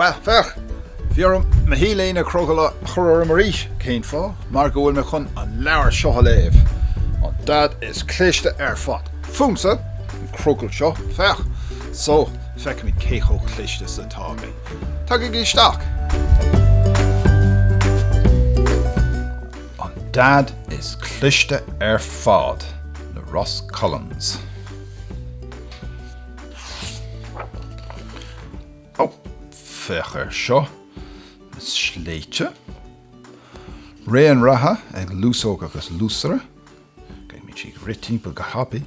Bhuel, féach, bhí orm mo T-léine crogaill a chur orm arís. Cén fáth? Mar go bhfuil mé chun an leabhar seo a léamh. An Daid is cliste ar fad. Fúmsa, an crogall seo, féach. So, feicfimid cé chomh cliste is atá mé. Tagaigí isteach! An Daid is cliste ar fad, le Ross Collins. Ó, féach ar seo. Na sléibhte. Raon reatha ag Luasóg agus Luasaire. Beimid ag rith timpeall go tapaidh.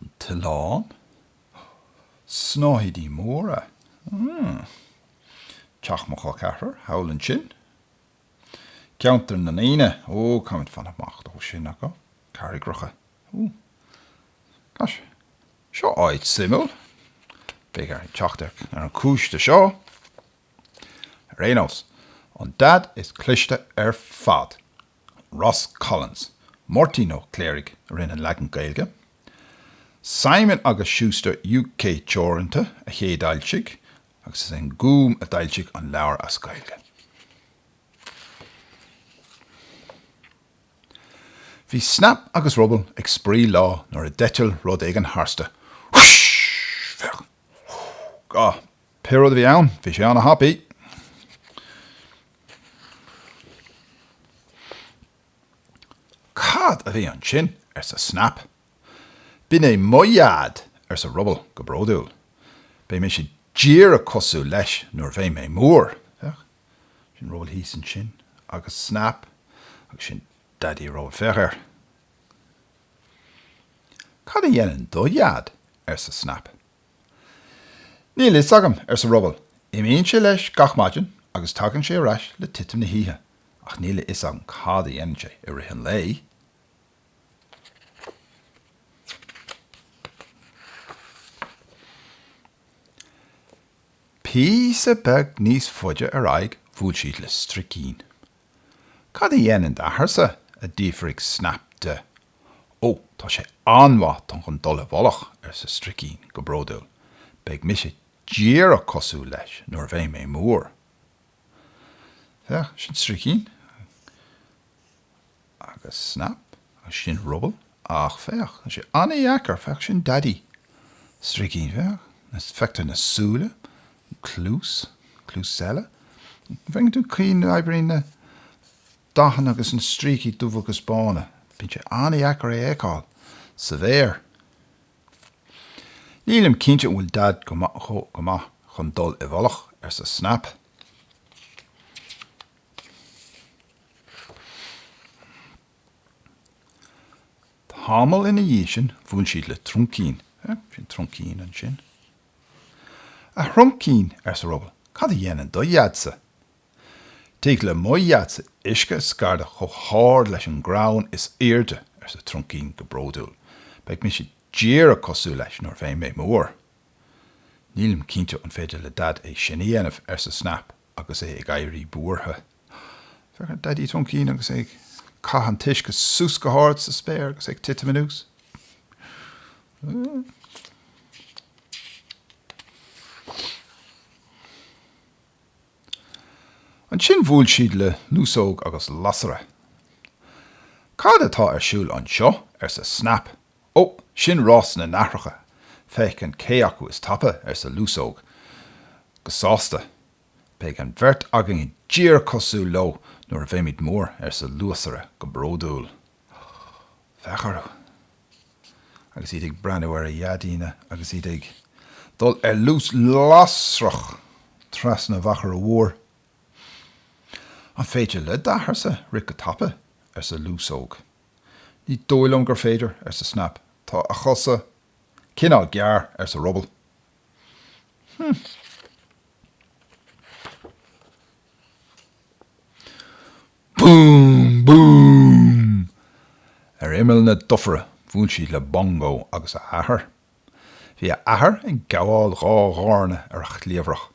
An t-oileán. Snáthaidí móra. Mmm. Teach mo chol ceathrair thall ansin. Ceantar na ndaoine. Ó, caithfimid fanacht amach ó sin. Agus carraigreacha. Ó. Gosh. Seo áit suimiúil. Beidh orainn teacht ar an cúis do seo. Ar aon nós, an Daid is cliste ar fad. Ross Collins, Máirtín Ó Cléirigh a rinne an leagan Gaeilge, Simon agus Schuster UK Teoranta a chéadfhoilsigh agus is é an Gúm a d'fhoilsigh an leabhar as Gaeilge. Bhí Snap agus Ruball ag spraoi lá nuair a d'eitil rud éigin tharstu. Whoosh! Féach! Whoo! Gah! Pé rud a bhí ann, bhí sé ana-thapaidh! Cad a bhí ansin? arsa Snap. B'in é mo Dhaid! arsa Ruball go bródúil. Beidh mise díreach cosúil leis nuair a bheidh mé mór, féach. Sin Ruball thíos ansin agus Snap agus sin Daidí Ruball, féach air. Cad a dhéanann do Dhaid? arsa Snap. Níl a fhios agam, arsa Ruball. Imíonn sé leis gach maidin agus tagann sé ar ais le titim na hoíche ach níl a fhios agam cad a dhéanann sé i rith an lae. Píosa beag níos faide ar aghaidh bhuail siad le Stríocín. Cad a dhéanann d'athairse? a d'fhiafraigh Snap de Ó, tá sé an-mhaith chun dul i bhfolach, arsa Stricín go bródúil. Beidh mise díreach cosúil leis nuair a bheidh mé mór. Féach, sin Stricín, agus Snap, agus sin Ruball, ach féach, tá sé an-dheacair, féach, sin Daidí Stricín, féach, feictear na súile, an cluas, an cluas eile, an bhfeiceann tú an chaoi a n-oibríonn na. Dathanna agus na stríocaí dubha agus bána. Bíonn sé an-dheacair é a fheiceáil sa bhféar. Nílim cinnte an bhfuil Daid go maith chun dul i bhfolach, arsa Snap. Tamall ina dhiaidh sin bhuail siad le Truncín. Sin Truncín ansin. A Thruncín, arsa Ruball, cad a dhéanann do Dhaid-sa? Tig le mo dhaidsa uisce a scairdeadh chomh hard leis an gcrann is aoirde, arsa Truncín go bródúil. Beidh mise díreach cosúil leis nuair a bheidh mé mór. Nílim cinnte an féidir le Daid é sin a dhéanamh, arsa Snap agus é ag éirí buartha. Féach ar Dhaidí Truncín agus é ag caitheamh an t-uisce suas go hard sa spéir agus é ag titim anuas. Ansin bhuail siad le Luasóg agus Lasaire. Cad atá ar siúl anseo? arsa Snap. Ó, sin rás na n-aithreacha, féachaint cé acu is tapa, arsa Luasóg go sásta. Beidh an bheirt againne díreach cosúil leo nuair a bheimid mór, arsa Luasaire go bródúil. Féach orthu agus iad ag breathnú ar a ndaideanna agus iad ag dul ar luas lasrach trasna an mhachaire mhóir. An féidir le d'athair-sa rith go tapa? arsa Luasóg. Ní dóigh liom gur féidir, arsa Snap. Tá a chosa cineál gearr, arsa Ruball. Hm. Boom! Boom! Ar imeall na dufaire bhuail siad le Bongo agus a athair. Bhí a athair ag gabháil dhá dhoirne ar a chliabhrach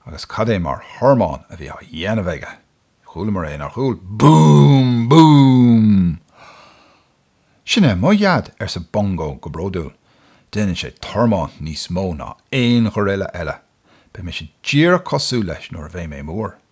agus cad é mar thormán a bhí á dhéanamh aige. Chualamar é nár chuala. Boom! Boom! Sin é mo dheaid, arsa Bongo go bródúil. Déanann sé tormán níos mó ná aon ghoraille eile. Beidh mise díreach cosúil leis nuair a bheidh mé mór.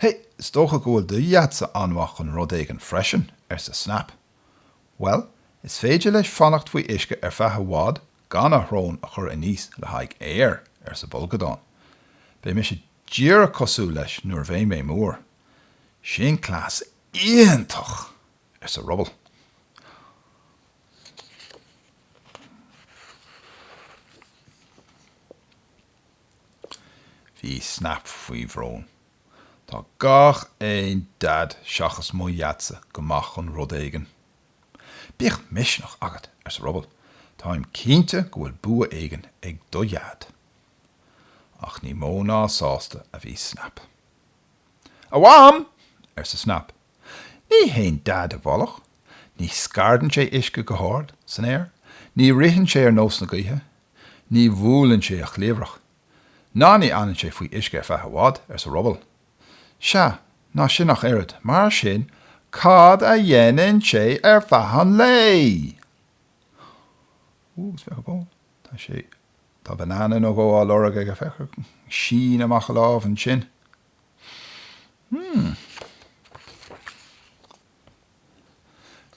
Hé, is dócha go bhfuil do dheaid-sa an-mhaith chun rud éigin freisin, arsa Snap. Bhuel, is féidir leis fanacht faoi uisce ar feadh i bhfad gan a shrón a chur aníos le haghaidh aeir, arsa Bolgadán. Beidh mise díreach cosúil leis nuair a bheidh mé mór. Sin cleas iontach! arsa Ruball. Bhí Snap faoi bhrón. Tá gach aon Dad seachas mo Dhadsa go maith chun rud éigin. Bíodh misneach agat, arsa Ruball, táim cinnte go bhfuil bua éigin ag do Dhad. Ach ní mó ná sásta a bhí Snap. A Mham! arsa Snap Ní théann Daid i bhfolach, ní scairdeann sé uisce go hard san aer, ní ritheann sé ar nós na gaoithe, ní bhuaileann sé a chliabhrach, ná ní fhanann sé faoi uisce ar feadh i bhfad, arsa Ruball. Sea, ná sin ach oiread. Mar sin, cad a dhéanann sé ar feadh an lae? Ó, féach. Tá sé, tá banana nó dhó á lorg aige. Féach, sín amach a lámh ansin.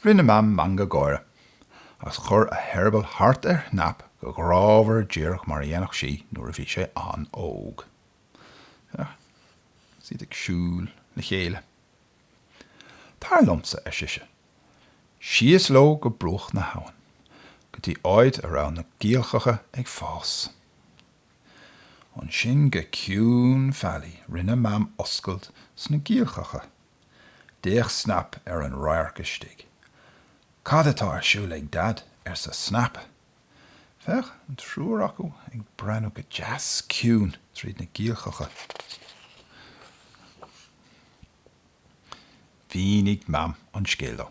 Rinne Mam meangadh gáire, agus chuir a heireaball thart ar Shnap go grámhar díreach mar a dhéanfadh sí nuair a bhí sé an-óg. Féach, is iad ag siúl le chéile. Tar liomsa, ar sise. Síos leo go bruach na habhann, go dtí áit a raibh na giolcacha ag fás. Ansin go ciúin fáilí rinne Mam oscailt sna giolcacha. D'fhéach Snap ar an radharc istigh. Cad atá ar siúl ag Dad? arsa Snap. Féach, an triúr acu ag breathnú go deas ciúin tríd na giolcacha. Mhínigh Mam an scéal dó.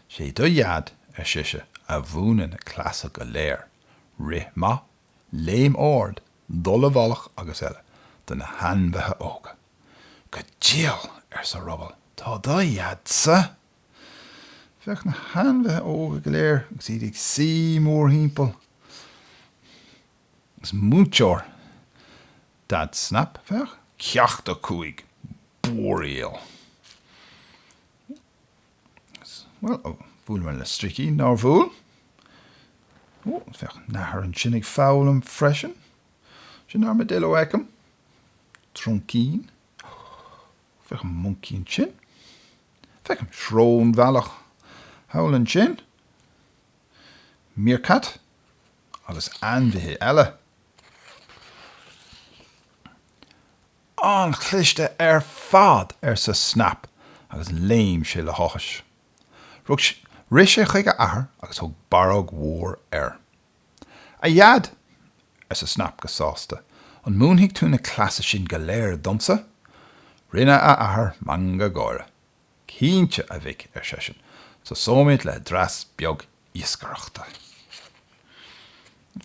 Sé do Dhaid, ar sise, a mhúineann na cleasa go léir. Rith maith Léim ard, dul i bhfolach agus eile do na hainmhithe óga. Go diail! arsa Ruball. Tá do dhead-sa! Féach na hainmhithe óga go léir agus iad ag suí mórthimpeall. Is múinteoir Daid Snap, féach. Ceacht a cúig, búiríl. Bhuel, ó, bhuaileamar le Stricín, nár bhuail? Ó, féach an nathair ansin ag foghlaim freisin. Sin Armadillo a fheicim. Truncín. Ó, féach an moncaí ansin. Feicim srónbheannach thall ansin. Meerkat. Agus ainmhithe eile. An-chliste ar fad! arsa Snap agus léim sé le háthas. R, rith sé chuig a athair agus thug barróg mhór air. A Dheaid! arsa Snap go sásta, an múinfidh tú na cleasa sin go léir domsa? Rinne a athair meangadh gáire. Cinnte, a mhic, ar seisean, tosóimid le dreas beag iascaireachta.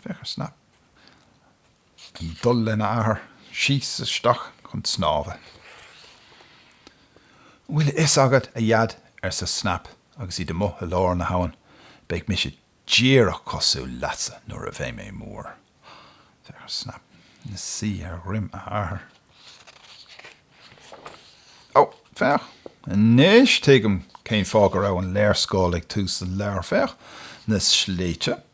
Féach ar Snap. dul len a athair síos isteach chun snámha. An bhfuil a fhios agat, a Dheaid, arsa Snap agus iad amuigh i lár na habhann, beidh mise díreach cosúil leatsa nuair a bheidh mé mór. Féach Snap ina suí ar dhroim a athair. Ó, féach, anois tuigim cén fáth go raibh an léarscáil ag tús an leabhair. Féach na sléibhte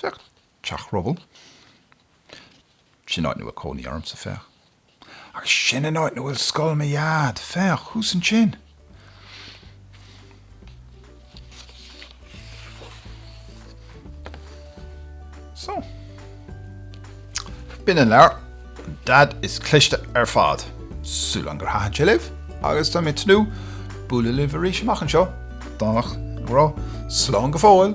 Féach, Teach Rubble. Sin an áit 'na bhfuil cónaí ormsa, féach. Agus sin an áit 'na bhfuil scoil mo Dhaid. Féach, thuas ansin. So. B'in an leabhar Dad is cliste ar fad, súil agam gur thaitin sé libh, agus tá mé ag tnúth bualadh libh arís amach anseo, Domhnach go bráth. Slán go fóill!